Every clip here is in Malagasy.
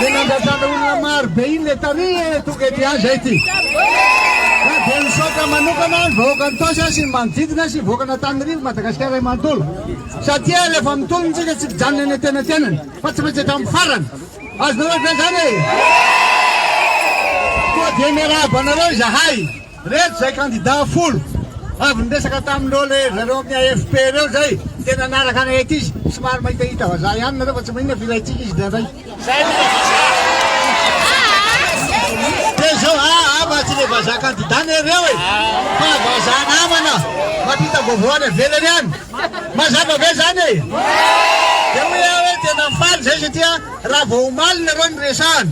Le nandrasana olona maro be iny le tany eh, tonga ety ihany zay ty. Ka dia misaotra manokana ny vahoaka Antosa sy ny manodidina sy ny vahoaka an'Antanirivo Madagasikara iray manontolo satria rehefa mitolona isika tsy mijanona eny antenatenany fa tsy maintsy hatramin'ny farany. Azonareo ve zany e? Koa dia miarahaba anareo izahay. Reto izay kandida folo avy niresaka tamin'ireo le ry zareo amin'ny AFP ireo izay tena niaraka anay aty izy. Somary mahitahita vazaha ihany nareo fa tsy maninona fa ilaintsika izy indraindray. Izay aloha ilay vazaha. Dia izao, aa fa tsy le vazaha kandida anie ireo e, fa vazaha namana mampita vaovao any ivelany any. Mazava ve izany e? Dia hoy aho hoe tena faly izay satria raha vao omaly nareo no niresahana.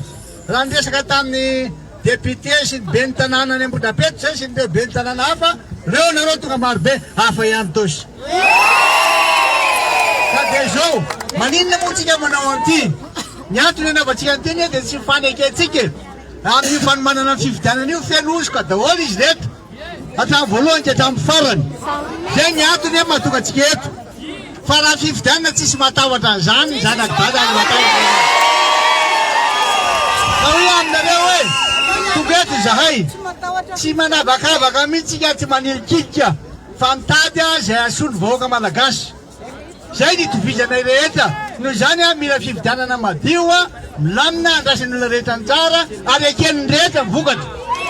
Raha niresaka tamin'ny député sy ny ben'ny tanàna any Ambohidrapeto izay sy ireo ben'ny tanàna hafa, reo nareo tonga marobe, hafa ihany tosy. Ka dia izao, maninona moa tsika manao an'ity? Ny antony anaovantsika an'ity anie dia tsy fanekentsika e. Amin'io fanomanana ny fifidianana io feno hosoka daholo izy ireto. Hatramin'ny voalohany ka hatramin'ny farany. Izay ny antony hoe mahatonga antsika eto. Fa raha fifidianana tsisy mahatahotra an'izany, ny zanak'i Dada no matahotra an'izany. Ka hoy aho aminareo hoe tonga eto izahay, tsy manavakavaka mihitsy isika, tsy manilikilika, fa mitady izay hahasoa ny vahoaka malagasy. Izay ny itovizanay rehetra. Noho izany aho mila fifidianana madio, milamina, andrasan'ny olona rehetra anjara ary eken'ny rehetra ny vokatra.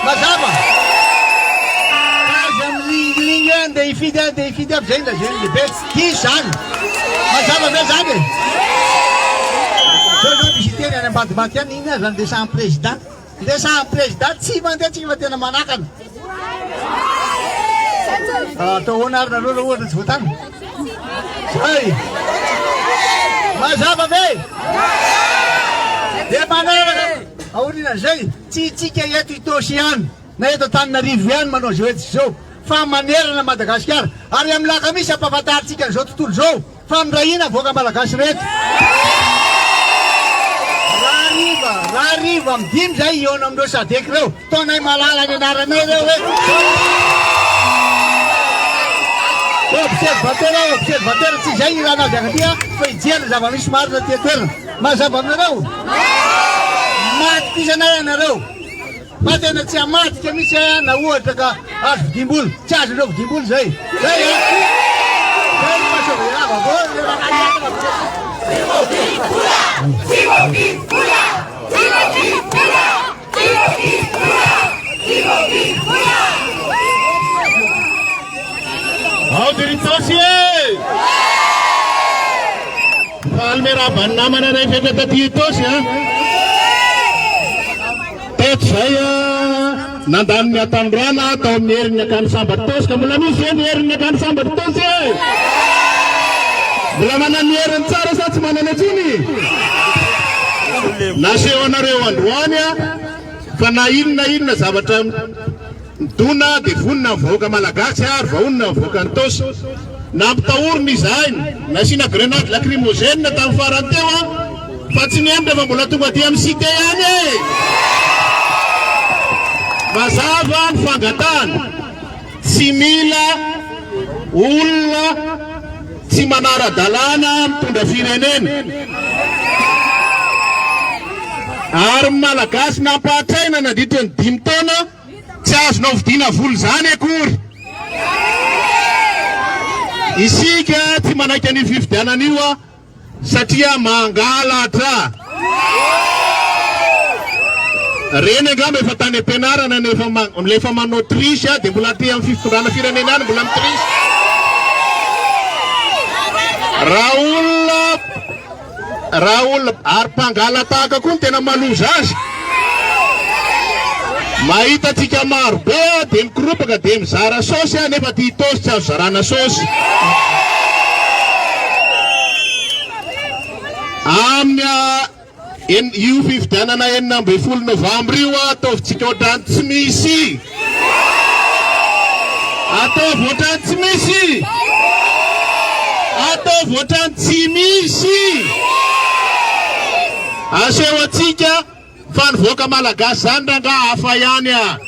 Mazava? Aza milingilingy hoe andeha hifidy aho, andeha hifidy aho, fa izay ny lazain'ny lehibe. Diso izany. Mazava ve izany e? Zao izao misy hiteny any ambadimbadika any, inona aza ny resahan'ny président. Le samy président tsy mandeha tsy fa tena manakana. Atao ahoana ary nareo raha ohatra tsy voatany? Zay. Mazava ve? Dia manaraka aorianan'izay tsy itsika eto Itaosy ihany na eto Antananarivo ihany manao izao etsy izao fa manerana Madagasikara ary amin'ny lakamisy ampahafantarintsika an'izao tontolo izao. Famindrahina vahoaka malagasy reto. Rahariva, rahariva am dimy zay hihaona am reo sadec reo. Ataonay malala ny anaranay reo hoe observatera, observatera, tsy zay ilana azy akaty a, fa hijery ny zava misy marina aty an toerana. Mazava aminareo? Matokisa anay ianareo. Fa tena tsy hamadika mihitsy ahy aho na ohatra ka azo vidim-bola. Tsy azon'ireo vidim-bola izay. Zay an! Zay no maha sauver ahy vaovao ilay rahalahy Ao Diritosy e! Mifalme raban'ny namana rehetra eto Diritosy a! Taty izay, nandany ny hatanorana tao amin'ny herin'ny Akany Sambatosy, ka mbola misy ve ny herin'ny Akany Sambatosy e? Mbola manana ny heriny tsara sa tsy manana intsony? Nasehonareo androany fa na inona inona zavatra Dona dia vonona ny vahoaka malagasy ary vaonona ny vahoaka nitaosy. Nampitahorina izahay, nasiana grenady lakrimozena tamin'ny farany teo aho fa tsy ny emdra fa mbola tonga aty amin'ny cite ihany e! Mazava ny fangatahana, tsy mila olona tsy manara-dalàna mitondra firenena. Ary ny malagasy nampahatraina nandritra ny dimy taona, Tsy azonao vidiana vola izany akory. Isika tsy manaiky an'io fifidianana io a, satria mangalatra. Reny angamba efa tany am-pianarana no efa ma- no efa manao triche a, dia mbola aty amin'ny fitondrana firenena any mbola mi-triche. Raha olona Raha olona ary mpangalatahaka koa no tena maloza azy. Mahita antsika maro be aho dia mikoropaka dia mizara saosy aho nefa ity tosy tsy azo zarana saosy. Amin'ny ah, io fifidianana enina ambin'ny folo novambra io ataovitsika ohatran'ny tsy misy. Ataovy ohatrany tsy misy! Ataovy ohatrany tsy misy! Aseho antsika fa ny vahoaka malagasy zany rangaha hafa ihany a!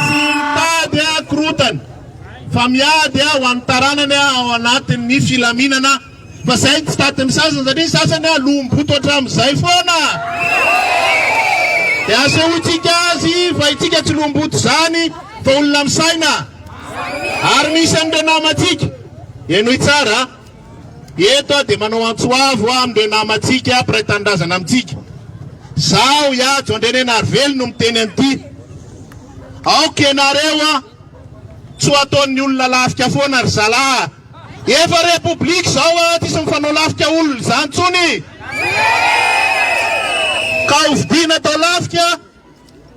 Tsy mitady korontana fa miady ho an'ny taranany ao anatin'ny filaminana. Fa zay tsy tady ny sasany satria ny sasany a lom-boto hatramin'izay foana. Dia asehointsika azy fa itsika tsy lom-boto izany fa olona misaina. Ary misy an'ireo namantsika. Henoy tsara. Eto aho dia manao antso avo aho amin'ireo namantsika mpiray tanindrazana amintsika. Zaho Ihajo Andrianenarivelo no miteny an'ity. Aoka ianareo a! Tsy ho ataon'ny olona lafika foana ry zalahy a! Efa repoblika izao an, tsisy mifanao lafika olona izany intsony ka hovidiana atao lafika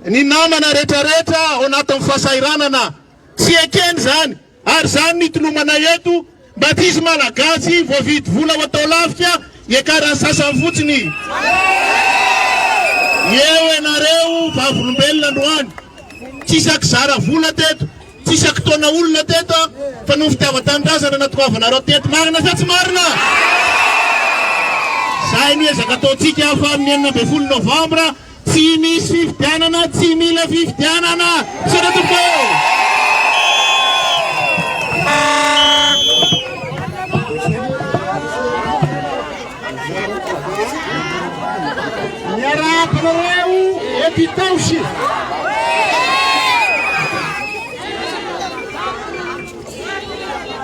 ny namana retraretra ao anatin'ny fasahiranana. Tsy ekena izany ary izany ny tolomanay eto mba tsisy malagasy voavidy vola ho atao lafika iakaran'ny sasany fotsiny. Eo ianareo vavolombelona androany, tsy sakizara vola teto. Tsy isaky taona olona teto an, fa noho fitiavan-tanindrazana natoavanareo teto. Marina sa tsy marina? Zay no ezaka ataontsika fa amin'ny enina ambin'ny folo novambra, tsy misy fifidianana, tsy mila fifidianana. Misaotra tompoko ô! Miarabanareo eto Itaosy.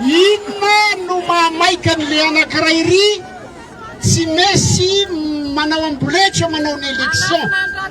Inona no mahamaika an'le anankiray ry tsy mesy manao amboletra manao ny election.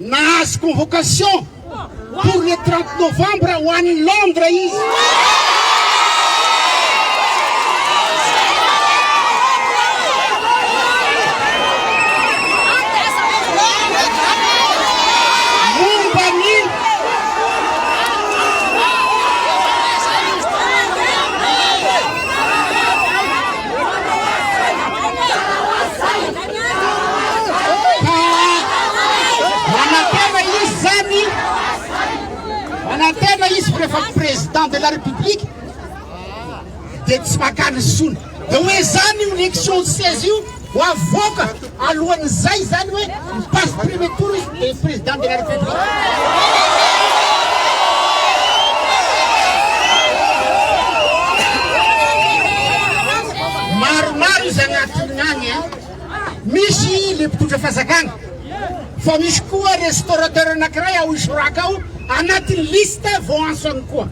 Nahazo convocation pour le trente novembre ho any Londres izy. Momba ny Ka manantena izy izany, manantena izy fa rehefa président de la république dia tsy makany intsony. Dia hoe izany io élection seize io ho avoaka alohan'izay izany hoe mi-passe premier tour izy. et président de la république maromaro izy agnatin'ny agny a misy le mpitondra fazakana fa misy koa restaurateur anankiray ao isoraka ao anatin'ny liste vao antsony koa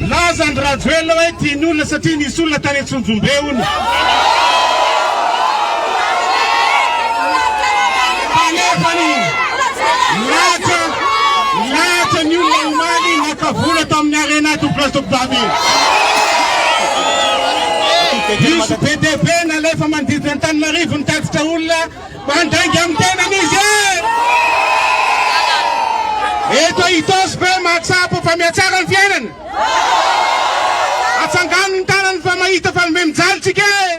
Milaza andry rajoelina hoe tiany olona satria nisy olona tany antsonjombe hono. Fanefany milahatra milahatra ny olona omaly naka vola tao amin'ny arena ato place de kobamy. Diso be dia be nalefa manodidina an'Antananarivo ny tatitra olona Mandainga amin'ny tenany izy e! Eto Itaosy ve mahatsapa fa mihatsara ny fiainana? Atsangano ny tanany fa mahita fa mibe mijaly tsika e!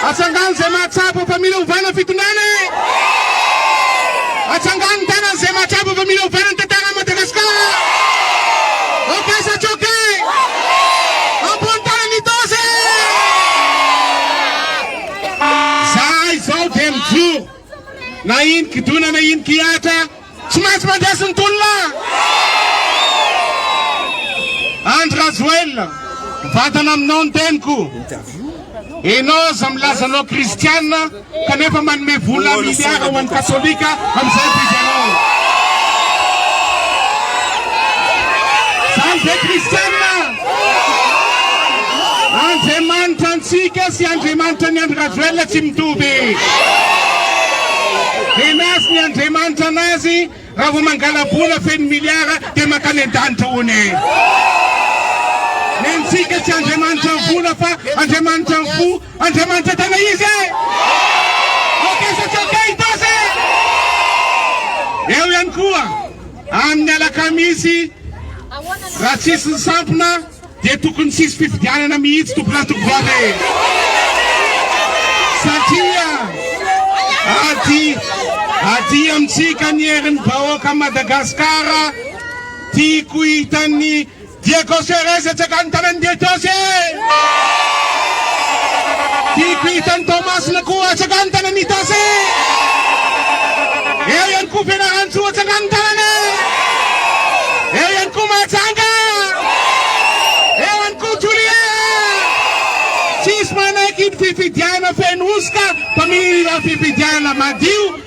Atsangano izay mahatsapa fa mila ovana fitondrana e! Atsangano ny tanany izay mahatsapa fa mila ovana ny tantaran'i Madagasikara! Ok sa tsy ok? Ambony tanana Itaosy e! Zahay izao dia mijoro, na iny kidona na iny kihatra, tsy maintsy mandeha sy ny tolona! Andry Rajoelina, mivantana aminao ny teniko. Enao aza milaza anao kristiana kanefa manome vola miliara ho an'ny katolika amin'izao gouvernement. Izany ve kristiana? Andriamanitra antsika sy Andriamanitra ny Andry Rajoelina tsy mitovy. Henazy ny Andriamanitra anazy raha vao mangala-bola feno milliards dia mankany an-danitra hono e. Ny antsika tsy Andriamanitra ny vola fa Andriamanitra ny fo, Andriamanitra tena izy e. Ok sa tsy ok Itasy e? Eo ihany koa. Amin'ny alakamisy, raha tsisy ny sampona dia tokony tsisy fifidianana mihitsy tompon'antoky vava e! Satria ady ady amintsika ny herin'ny vahoaka Madagasikara, tiako hitan'ny Diego Ceres etsaka any tanany Dietosy e! Tiako hita any Toamasina koa etsaka any tanany Itasy e! Eo ihany koa Fianarantsoa etsaka any tanany e! Eo ihany koa Mahajanga! Eo ihany koa Julia! Tsisy manaiky ny fifidianana feno hosoka fa mila fifidianana madio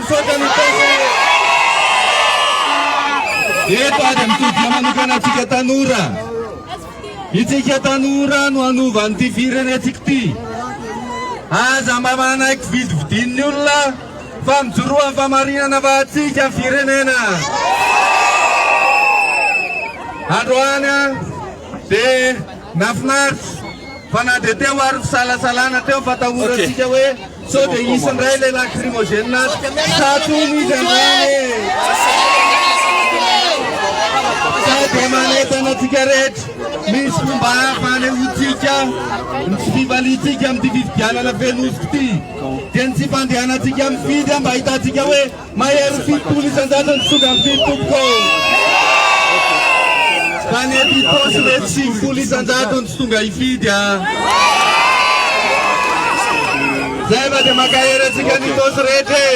Misaotra ny Tompo e! Eto ary amin'ny toby manokana antsika tanora. Itsika tanora no hanova an'ity firenentsika ity. Aza mba manaiky vidividin'ny olona fa mijoroa amin'ny fahamarinana fa antsika ny firenena. Androany dia Nafinaritra fa na dia teo ary fisalasalana teo ny fatahorantsika hoe sao dia hisy indray ilay lacrymogène ato sa tony izy androany e! Sa dia manentana antsika rehetra misy fomba hafa hanehoantsika ny tsy fivaliantsika amin'ity fifidianana feno hosoka ity dia ny tsy fandehanantsika mifidy mba hahitantsika hoe Mahery fitopolo isan-jato ny tonga ny fito tompoko ô! Tany am-pitosy mety sivifolo isan-jato ny tsy tonga hifidy a! Zay mba dia mankahery antsika ny tosy rehetra e!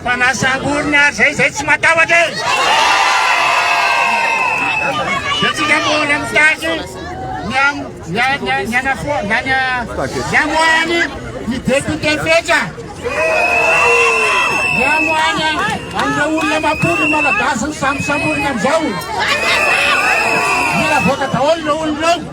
Fa na sangoriny ary zay zay tsy matahotra e! Dia tsika mbola mitaky ny am ny a ny a ny anafoa na ny a ny amoahany ny député fetra. Ny amoahany an'ireo olona mampondro malagasy ny sambosamboriny amizao. Mila avoaka daholo ireo olona ireo.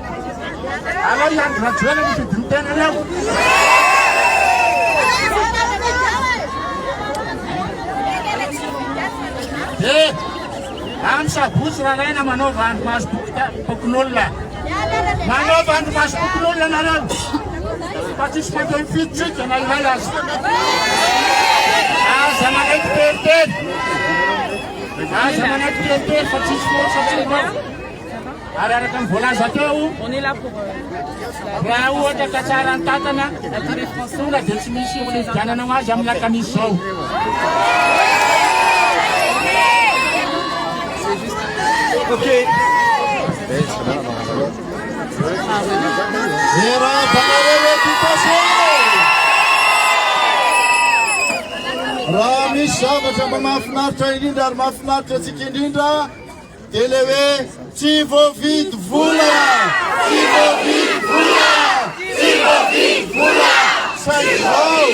Aleo i Andry Rajoelina no fidio tena aleo. Dia amin'ny sabotsy raraina manaova andro maso bokin'olona. Manaova andro maso bokin'olona nareo. Fa tsisy mandeha mifidy tsika na iray aza. Aza manaiky teritery. Aza manaiky teritery fa tsisy forsa tsika. Ary araka ny voalaza teo, raha ohatra ka tsara ny tantana, tonga dia tsy misy ho fifidianana ho azy amin'ny lakamisy izao. Okay. Raha misy zavatra mba mahafinaritra indrindra ary mahafinaritra antsika indrindra Dia le hoe tsy voavidy vola! Tsy voavidy vola! Tsy voavidy vola! Saingy izao,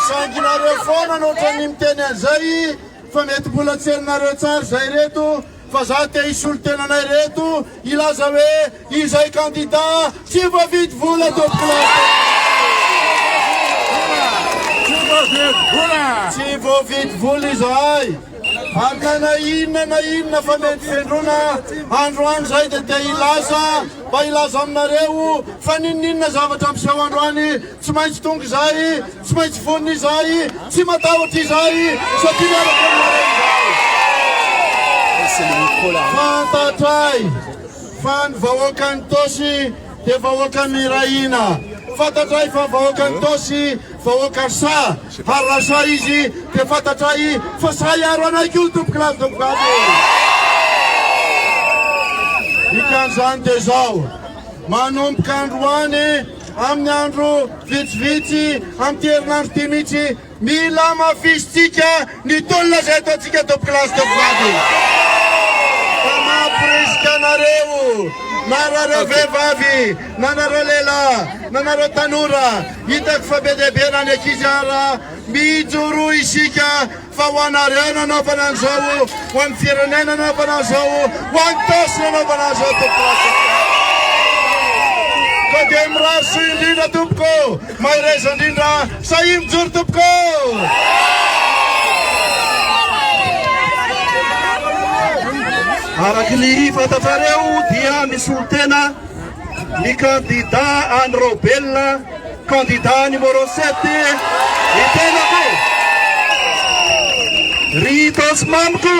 saingy nareo foana no ohatran'ny miteny an'izay fa mety mbola tsy henonareo tsara izay reto fa za te hisolo tena anay reto hilaza hoe Izay kandida tsy voavidy vola tompoko lafo. Tsy voavidy vola izahay fa ka na inona na inona fa mety fendrona androany izay dia te hilaza mba hilaza aminareo fa ninoninona zavatra miseho androany tsy maintsy tonga izay tsy maintsy vonona izay tsy matahotra izay satria miaraka aminareo izay fantatray Fa ny vahoakan'i Tosy dia vahoaka mirahina. Fantatray fa vahoakan'i Tosy vahoaka sahy, ary raha sahy izy dia fantatray fa sahy hiaro anay koa ny tomponkilazy tovovavy e! Dikan'izany dia izao, manomboka androany, amin'ny andro vitsivitsy, amin'ity herinandro ity mihitsy, Mila hamafisintsika ny tolona izay ataontsika eto Place de Frady. Fa mamporisika anareo, na anareo vehivavy, na anareo lehilahy, na anareo tanora, hitako fa be dia be na ny ankizy ara, mijoroa isika fa ho anareo nanaovana an'izao, ho an'ny firenena nanaovana an'izao, ho an'ny Tosy nanaovana an'izao tompoko lasa. Ka dia mirary soa indrindra tompoko. Mahereza indrindra sahia mijoro tompoko! Araka ny fantatrareo dia misolo tena ny kandida any Raobelina, kandida any Morosette ny tenako. Ry Itaosy mamiko,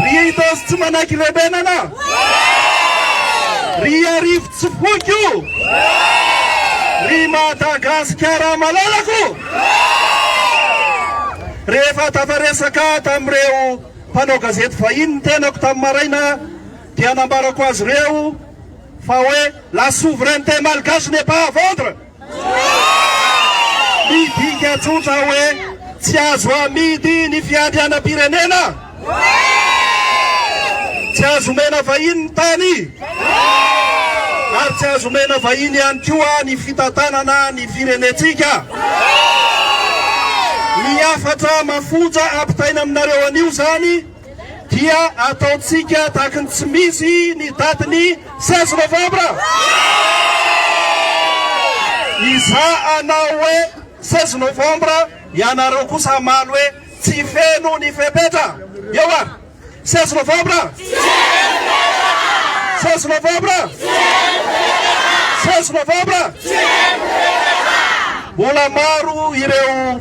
ry Itaosy tsy manaiky lebenana, ry Arivo Tsy foiko o! Ry Madagasikara malalako! Rehefa tafaresaka tamin'ireo mpanao gazety vahiny ny tenako tamin'ny maraina dia nambarako azy ireo fa hoe la souveraineté malgache n'est pas à vendre! Midika tsotra hoe tsy azo amidy ny fiandrianam-pirenena? Tsy azo omena vahiny ny tany? Ary tsy azo omena vahiny ihany koa ny fitantanana ny firenentsika? Ny hafatra mafonja ampitaina aminareo anio izany dia ataontsika tahaka ny tsy misy ny datin'ny 16 novambra. Izaho anao hoe 16 novambra, ianareo kosa hamaly hoe tsy feno ny fepetra. Eo ary, 16 novambra. 16 novambra. 16 novambra. Mbola maro ireo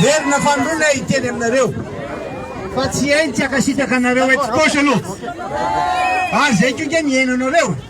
Miverina fanoloana hiteny aminareo fa tsy hay ny tsy hankasitraka anareo etsy gauche aloha. Ary izay koa ange mihaino anareo.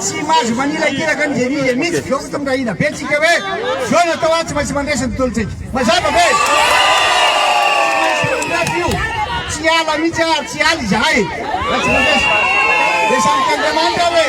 Tsy mahazo manilakilaka ny Genise mihitsy zao fotsiny raha hina be tsika hoe zao no atao tsy maintsy mandresy ny tontolontsika. Mazava ve? Tsy ala mihitsy ary tsy ala izahay raha tsy mandresy. Dia samy Andriamanitra hoe.